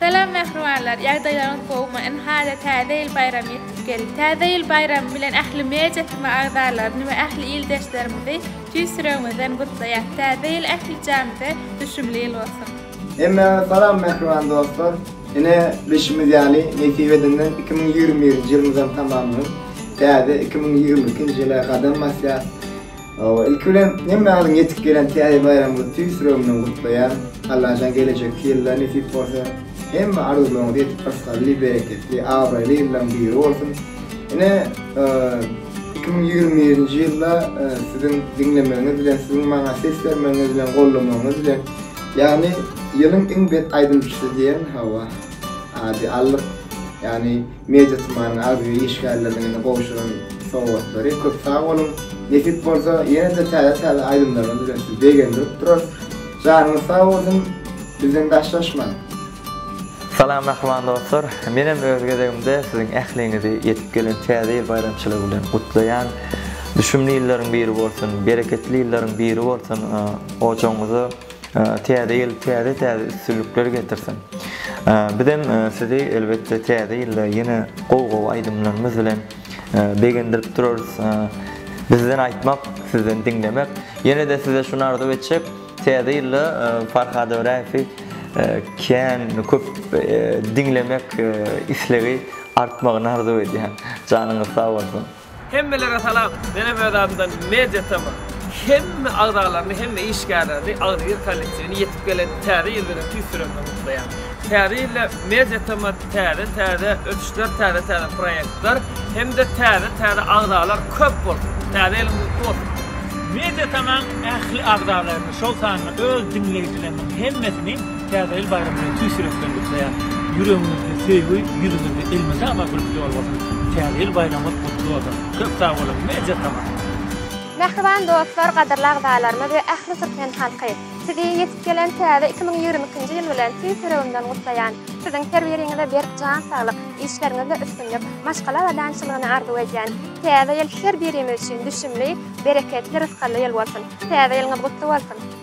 Salam mähribanlar, ýagdaýlaryňyz gowumy? Ynha-da Täze ýyl baýramy ýetip geldi. Täze ýyl baýramy bilen ähli media tma agzalaryny we ähli ildeşlerimizi tüýs ýüregimizden gutlaýas. Täze ýyl ähli janyze düşümli ýyl bolsun! Hemmäňize salam mähriban dostlar! Ine, bilşimiz ýaly, nesip edenden iki müň ýigrimi birinji ýylymyzam tamamlanyp, täze iki müň ýigrimi ikinji ýyla gadam basýas. Hawa, ilki bilen hemme alyň ýetip gelen täze baýramyňyzy tüýs ýüregimden gutlaýan. Allajan gelejekki ýylda nesip bolsa hemme arzuwlaryňyzy edip ysgally, bereketli, abraýly ýyllaryň biri bolsun. Ine, iki müň ýigrimi birinji ýylda siziň diňlemeginiz bilen, siziň maňa ses bermegiňiz bilen, gollamagyňyz bilen, ýagny ýylyň iň bet aýdymçysy diýen, hawa, ady aldyk. Ýagny Media Tumanynyň arhiwi işgärleriniň indi gowşuran sowgatlary. Köp sag boluň. Nesip bolsa ýene-de täze-täze aýdymlarymyz bilen sizi begendirip durarys. Janyňyz sag bolsun. Bizden daşlaşmaň. Salam mähriban dostlar. Menem öz gezegimde siziň ähliňizi ýetip gelen Täze ýyl baýramçylygy bilen gutlaýan. Düşümli ýyllaryň biri bolsun, bereketli ýyllaryň biri bolsun. Ojagyňyza. Täze ýyl täze täze üstünlikler getirsin. Bizem sizi elbetde täze ýylda ýene gowy gowy aýdymlarymyz bilen begendirip durarys. Bizden aýtmak, sizden diňlemek. Ýene-de size şuny arzuw etjek, täze ýylda Farhad Öräýewi kän köp diňlemek islegi artmagyny arzuw edýän. Janyňyz sag bolsun. Hemmelere salam! Menem öz adymdan Media TV hemme agzalaryny hemme işgärlerini Agzybir kollektiwini ýetip gelen Täze ýyl bilen tüýs ýürekden gutlaýan. Täze ýylda Media TV täze täze ösüşler täze täze proýektler hemde täze täze agzalar köp bolsun! Täze ýylyň gutly bolsun! Media TV-nyň ähli agzalaryny şol sanda öz diňleýjileriniň hemmesini Täze ýyl baýramy bilen tüýs ýürekden gutlaýan! Ýüregiňizde söýgi, ýüzüňizde elmydama gülki ýol bolsun! Täze ýyl baýramyňyz gutly bolsun! Köp sag boluň, Media Tamam! Mähriban dostlar, gadyrly agzalarymyz we ähli türkmen halky! Sizi ýetip gelen täze iki müň ýigrimi ikinji ýyl bilen tüýs ýüregimden gutlaýan! Siziň her biriňize berk jan saglyk, işleriňizde üstünlik, maşgala abadançylygyny arzuw edýän! Täze ýyl her birimiz üçin düşümli, bereketli, rysgally ýyl bolsun! Täze ýylyňyz gutly bolsun!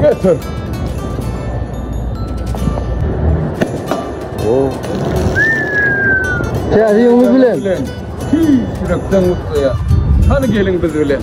Götür. Oh. Täze ýylyňyz bilen. Tüý ýürekden gutlaýa. Hany geliň biz bilen.